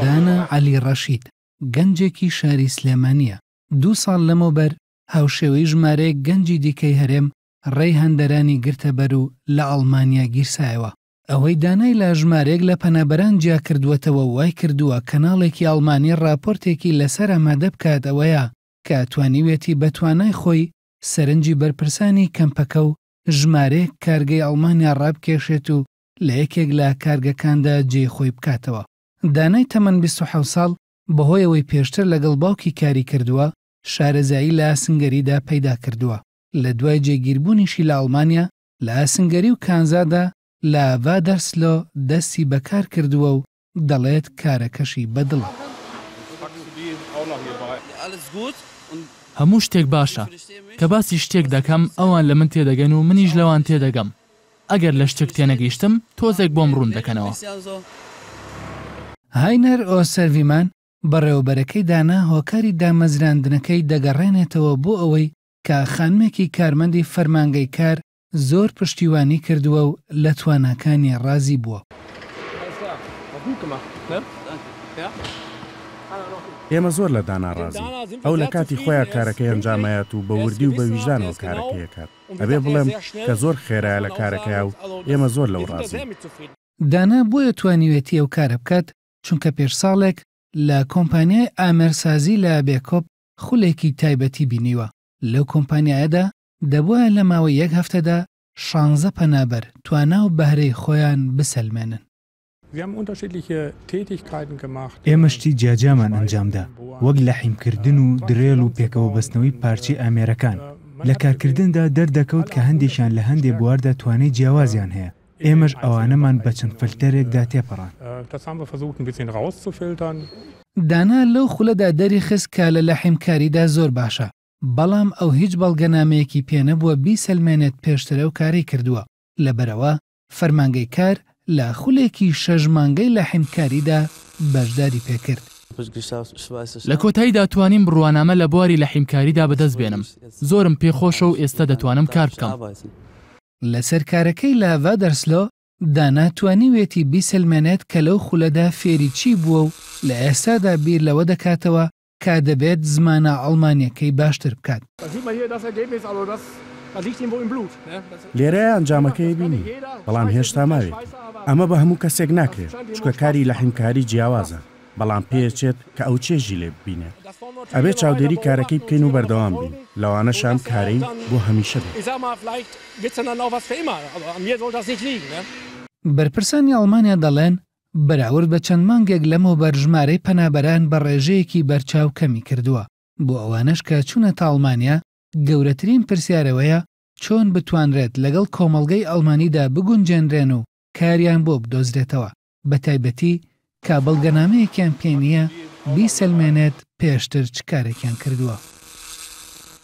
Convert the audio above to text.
دانا عەلی ڕەشید، گەنجێکی شاری سلێمانییە، دوو ساڵ لەمەوبەر هاوشێوەی ژمارەیەک گەنجی دیکەی هەرێم ڕێی هەندەرانی گرتەبەر و لە ئەڵمانیا گیرسایەوە. ئەوەی دانای لە ژمارەیەک لە پەنابەران جیاکردووەتەوە و وایکردووە کەناڵێکی ئەڵمانی ڕاپۆرتێکی لەسەر ئامادە بکات ئەوەیە کە توانیویەتی بە توانای خۆی سەرنجی بەرپرسانی کەمپەکە و ژمارەیەک کارگەی ئەڵمانیا ڕابکێشێت و لە یەکێک لە کارگەکاندا جێی خۆی بکاتەوە. دانای تەمەن بیست و حەوت ساڵ بەهۆی ئەوەی پێشتر لەگەڵ باوکی کاری کردووە، شارەزایی لە ئاسنگەریدا پەیدا کردووە، لە دوای جێگیربوونیشی لە ئەڵمانیا لە ئاسنگەری و کانزادا لە ڤادەرسلۆ دەستی بە کار کردووە و دەڵێت کارەکەشی بە دڵە. هەموو شتێک باشە. کە باسی شتێک دەکەم ئەوان لە من تێدەگەن و منیش لەوان تێدەگەم. ئەگەر لە شتێک تێنەگەیشتم تۆزێک بۆم ڕوون دەکەنەوە. هاینەر ئۆسەرڤیمان، بەڕێوەبەرەکەی دانا هۆکاری دامەزراندنەکەی دەگەڕێنێتەوە بۆ ئەوەی کە خانمێکی کارمەندی فەرمانگەی کار زۆر پشتیوانی کردووە و لە تواناکانی ڕازی بووە. ئێمە زۆر لە دانا ڕازین، ئەو لە کاتی خۆیا کارەکەی ئەنجام ئەیات و بە وردی و بە ویژدانەوە کارەکەی ئەکات، ئەبێ بڵێم کە زۆر خێرایە لە کارەکەیا و ئێمە زۆر لەو ڕازین. دانا بۆیە توانیوێتی ئەو کارە بکات، چونکە پێش ساڵێک لە کۆمپانیای ئامێرسازی لە بێکۆپ خولێکی تایبەتی بینیوە، لەو کۆمپانیایەدا دەبوایە لە ماوەی یەک هەفتەدا شانزە پەنابەر توانا و بەهرەی خۆیان بسەلمێنن. ئێمە شتی جیاجیامان ئەنجامدا، وەک لەحیمکردن و درێل و پێکەوەبەستنەوەی پارچەی ئامێرەکان. لە کارکردندا دەردەکەوت کە هەندێکیان لە هەندێ بواردا توانای جیاوازیان هەیە، ئێمەش ئەوانەمان بە چەند فلتەرێکدا تێپەڕاند. دانا لەو خولەدا دەریخست کە لە لەحیمکاریدا زۆر باشە، بەڵام ئەو هیچ بەڵگەنامەیەکی پێ نەبووە بیسەلمێنێت پێشتر ئەو کارەی کردووە، لەبەرئەوە فەرمانگەی کار لە خولێکی شەش مانگەی لەحیمکاریدا بەشداری پێکرد. لە کۆتاییدا توانیم بڕوانامە لە بواری لەحیمکاریدا بەدەست بێنم، زۆرم پێ خۆشە و ئێستا دەتوانم کار بکەم. لەسەر کارەکەی لە ڤادەرسلۆ، دانا توانیویەتی بیسەلمێنێت کە لەو خولەدا فێری چی بووە و لە ئێستادا بیر لەوە دەکاتەوە کە دەبێت زمانە ئەڵمانییەکەی باشتر بکات. لێرەیە ئەنجامەکەی بینی، بەڵام هێشتا ماوێتی. ئەمە بە هەموو کەسێک ناکرێت، چونکە کاری لەحیمکاری جیاوازە، بەڵام پێیەچێت کە ئەو چێژی لێ ببینێت. ئەبێت چاودێری کارەکەی بکەین و بەردەوام بین، لەوانەشە ئەم کارەی بۆ هەمیشە بێت. بەرپرسانی ئەڵمانیا دەڵێن، بەراورد بە چەند مانگێک لەمەوبەر ژمارەی پەنابەران بە ڕێژەیەکی بەرچاو کەمی کردووە، بۆ ئەوانەش کە چوونەتە ئەڵمانیا، گەورەترین پرسیار ئەوەیە چۆن بتوانرێت لەگەڵ کۆمەڵگەی ئەڵمانیدا بگونجێنرێن و کاریان بۆ بدۆزرێتەوە، بەتایبەتی کە بەڵگەنامەیەکیان پێ نییە بیسەلمێنێت پێشتر چ کارێکیان کردووە.